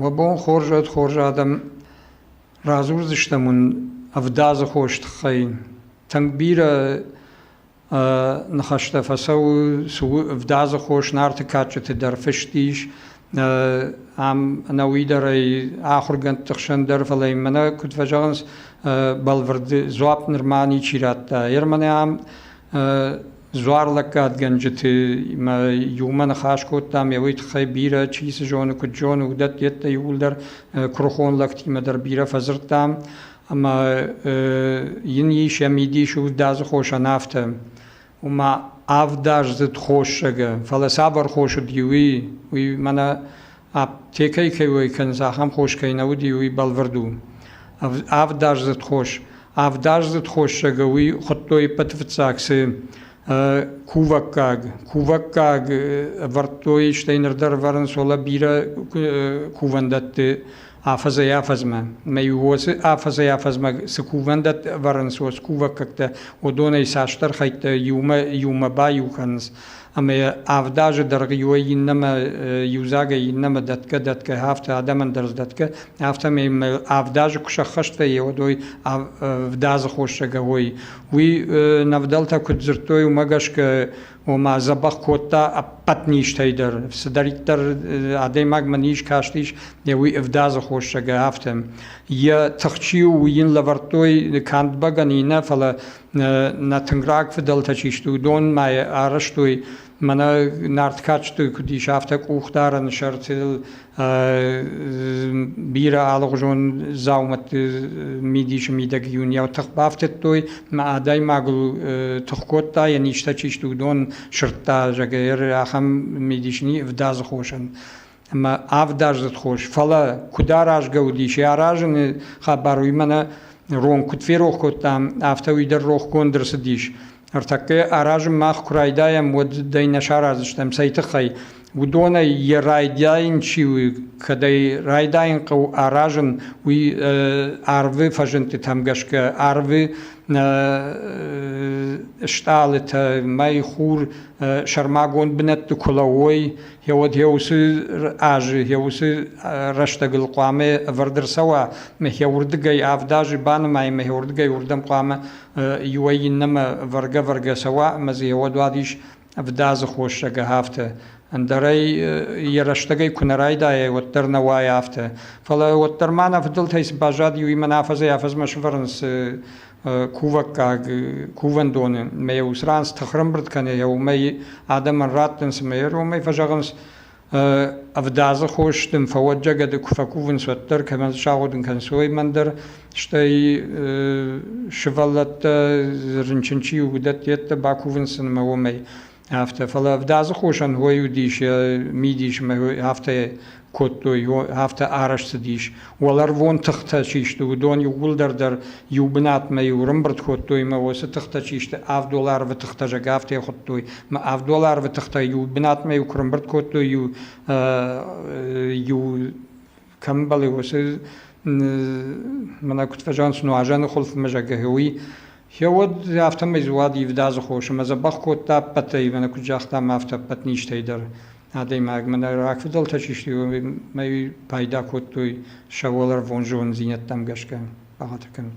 Уӕ бон хорз уӕд хорз адӕм! Радзурдзыстӕм уын ӕвдадзы хос тыххӕй. Тынг бирӕ Ныхӕстӕ фӕцӕуы, цы у ӕвдадзы хос, Нарты кадджыты дӕр фыст ис. Ам ӕнӕуый дӕр ӕй ахуыргӕндты хсӕн дӕр, фӕлӕ йын мӕнӕ куыд фӕзӕгъынц, бӕлвырды дзуапп нырма ничи радта. Ермӕнӕ ам дзуарлӕггадгӕнджытимӕ иумӕ ныхас кодтам, ӕуый тыххӕй бирӕ, чи цы зоны, куыд зоны, уыдӕттӕ иууылдӕр куырыхон лӕгтимӕ дӕр бирӕ фӕдзырдтам. Ӕмӕ йын ис йӕ мидис уыздадзы хосӕн афтӕ, ома ӕвдаздзыд хосагы, фӕлӕ цавӕр хос уыди, уый, уый мӕнӕ аптекӕйы кӕй уӕй кӕнынц, ахӕм хос кӕй нӕ уыди, уый бӕлвырд у. Ӕвдаздзыд хос. Ӕвдаздзыд хосагы уый хуыдтой иппӕты фыццаг цы кувӕггаг. Кувӕггаг ӕвӕрдтой, стӕй ныр дӕр ӕвӕрынц, ола бирӕ кувӕндӕтты афӕдзӕй-афӕдзмӕ. Мӕ уоцы афӕдзӕй-афӕдзмӕ цы кувӕндӕтт ӕвӕрынц уос кувӕггӕгтӕ, уыдонӕй цасдӕр хӕйттӕ иумӕ-иумӕ баиу кӕнынц. Ӕмӕ авд азы дӕргъы иуӕй иннӕмӕ иудзагӕй иннӕмӕ дӕтгӕ-дӕтгӕ, афтӕ адӕмӕн дӕр сдӕтгӕ, афтӕмӕй мӕ авд азы куы сӕххӕстӕй, уӕд уой ӕвдадзы хосагӕ уой. Уый нӕ вдӕлтӕ куыд дзырдтой, уымӕ гӕсгӕ ома дзӕбӕх кодта ӕппӕт низтӕй дӕр. Цыдӕриддӕр адӕймагмӕ низ кастис йӕ уый ӕвдадзы хосагӕ, афтӕ. Йӕ тыхчи у уый йын лӕвӕрдтой канд бӕгӕныйы нӕ, фӕлӕ нӕ тынг раг фыдӕлтӕ чи сты, уыдонмӕ арӕзтой мӕнӕ нарт кадджыты куыд ис, афтӕ къухдарӕны сӕртыл бирӕ алыгъуызон дзаумӕтты мидисы мидӕг июнйау тых бафтыдтой мӕ адӕймагыл тых кодта йӕ низтӕ чи сты уыдон сырдта зӕгӕр ахӕм мидис ни ӕвдадзы хосӕн ӕмӕ ӕвдадзыд хос фӕлӕ куыд аразгӕ уыдис йӕ аразыны хабар уый мӕнӕ рон куыд ферох кодтам афтӕ уый дӕр рохгонд ӕрцыдис Ӕртӕккӕ аразын мах куы райдайӕм, уӕд дӕй нӕ сараздзыстӕм, цӕй тыххӕй? Уыдонӕй йӕ райдайын чи у, кӕд ӕй райдайын хъӕуы аразын, уый арвы фӕзындтытӕм гӕсгӕ арвы стъалытӕ, мӕй хур сӕрмагонд бынӕтты куы лӕууой, йӕ уӕд йӕ уыцы азы, йӕ уыцы рӕстӕгыл хъуамӕ ӕвӕрд ӕрцӕуа, мӕ йӕ уырдыгӕй авд азы банымайын, мӕ йӕ уырдыгӕй уырдӕм хъуамӕ иуӕй иннӕмӕ вӕргӕ-вӕргӕ цӕуа ӕмӕ дзы уӕдуадис ӕвдадзы хосӕг афтӕ. Ӕндӕрӕй йӕ рӕстӕгӕй куы нӕ райдайай, уӕддӕр нӕ уайы афтӕ. Фӕлӕ уӕддӕр ма нӕ фыдӕлтӕй цы баззад, иуимӕ афӕдзӕй-афӕдзмӕ сӕвӕрынц кувӕггаг кувӕндоны, ӕмӕ йӕ уыцы ран цы тыхрӕмбырд кӕны, йӕ уымӕй адӕмӕн раттынц ӕмӕ йӕ ронмӕ фӕзӕгъынц, Ӕвдадзы хос дын фӕуӕдджагады куы фӕкувынц, уӕддӕр кӕмӕн сагъуыдын кӕнынц, уымӕн дӕр, стӕй сывӕллӕттӕ рынчын чи у, уыдӕтты йеддӕ бакувынц сын ӕмӕ уымӕй. Афтӕ, фӕлӕ ӕвдадзы хосӕн ой уыдис, йӕ мидис ӕмӕ афтӕ кодтой, афтӕ арӕзт цыдис. Уӕларвон тыхтӕ чи сты, уыдон иууылдӕр дӕр иу бынатмӕ-иу рымбырд кодтой мӕ уыцы тыхтӕ чи сты, авддол арвы тыхтӕ зӕг афтӕ хуыдтой. Мӕ авддол арвы тыхтӕ иу бынатмӕ-иу куы рымбырд кодтой, иу иу кӕмбӕлы уыцы мӕнӕ куыд фӕзӕгъынц, нуазӕны хуылфмӕ зӕггӕ уый, Гье уӕд афтӕмӕй дзуад ивдадзы хос ӕмӕ дзӕбӕх кодта ӕппӕтӕй, мӕнӕ куыд загътам, афтӕ ӕппӕт низтӕй дӕр. адӕймагмӕ рагфыдӕлтӕ чи сты, уымӕй пайда кодтой сӕ уӕларвон зондзинӕдтӕм гӕсгӕ бахатыр кӕнын.